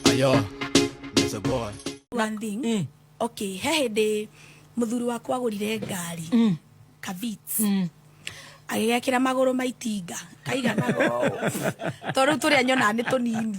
Ayo, there's a boy. one thing mm. okay he hindi muthuri wakwa agurire ngari mm. kavits mm agigekira maguru ma itinga kaigana tondu turia nyonaga ni tunini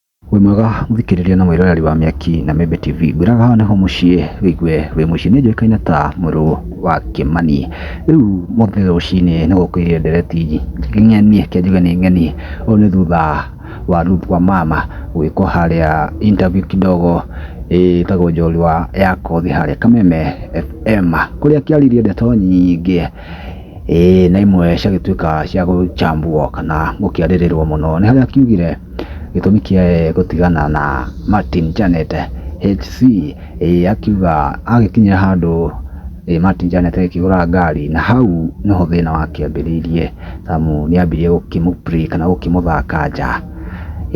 Wĩ mwega mũthikĩrĩria na mwĩroreri wa Mĩaki na Mĩmbi TV, ngwĩraga haha nĩho mũciĩ wĩigue wĩ mũciĩ. Niĩ njũĩkaine ta mũrũ wa Kĩmani. Rĩu ũmũthĩ rũcinĩ nĩ gũkĩire ndereti ng'eni, reke njuge nĩ ng'eni. Ũũ nĩ thutha wa Ruth Wamama gwĩkwo harĩa interview kidogo ĩtagwo njorua ya kothi harĩa Kameme FM, kũrĩa akĩaririe ndeto nyingĩ. Ĩĩ na imwe ciagĩtuĩka cia gũcambwo kana gũkĩarĩrĩrwo mũno nĩ harĩa kiugire gĩtũmi kĩa gũtigana na Martin Janet HC ĩĩ akiuga agĩkinyire handũ Martin Janet agĩkĩgũra ngari na hau nĩho thĩna wakĩambĩrĩirie amu nĩambirie gũkĩmũ play kana gũkĩmũthaka nja.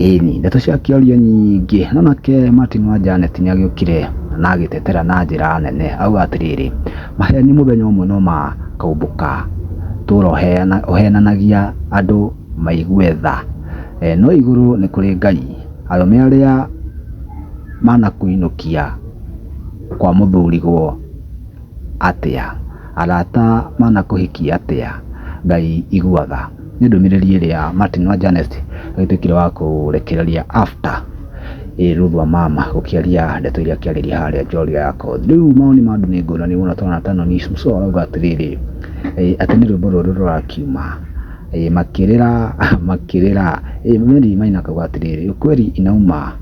Ĩni, ndeto cia kĩario nyingĩ. No nake Martin wa Janet nĩ agĩũkire na agĩtetera na njĩra nene auga atĩrĩrĩ, Maheeni mũthenya ũmwe no makaumbũka tũũra ũheenanagia andũ maigue tha. No igũrũ nĩ kũrĩ Ngai. Arũme arĩa manakũinũkia kwa mũthuriguo. atĩa? Arata manakũhikia atĩa? Ngai iguaga. Nĩ ndũmĩrĩri ĩrĩa Martin wa Janet agĩtuĩkire wa kũrekereria after Ruth wa mama gũkĩaria ndeto iria akĩarĩria harĩa njorua ya kothi. Rĩu mawoni ma andũ nĩ ngũrani mũno twana ta Noni Suso arauga atĩrĩrĩ atĩ nĩ rwĩmbo rũrũ rũrakiuma makĩrĩra makĩrĩra Mary Maina akauga atĩrĩrĩ ukweli inauma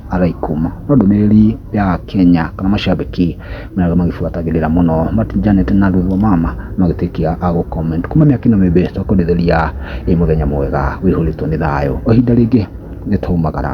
agaikuma. No ndũmĩrĩri ya Akenya kana macambĩki marĩa magĩbuatagĩrĩra mũno Martin Janet na Ruth Wamama magĩtuĩke a gũ comment kuma mĩaka ĩno mĩingĩ twakũendithĩria ĩ mũthenya mwega wĩihũrĩtwo nĩ thayũ. O ihinda rĩngĩ nĩ twaumagara.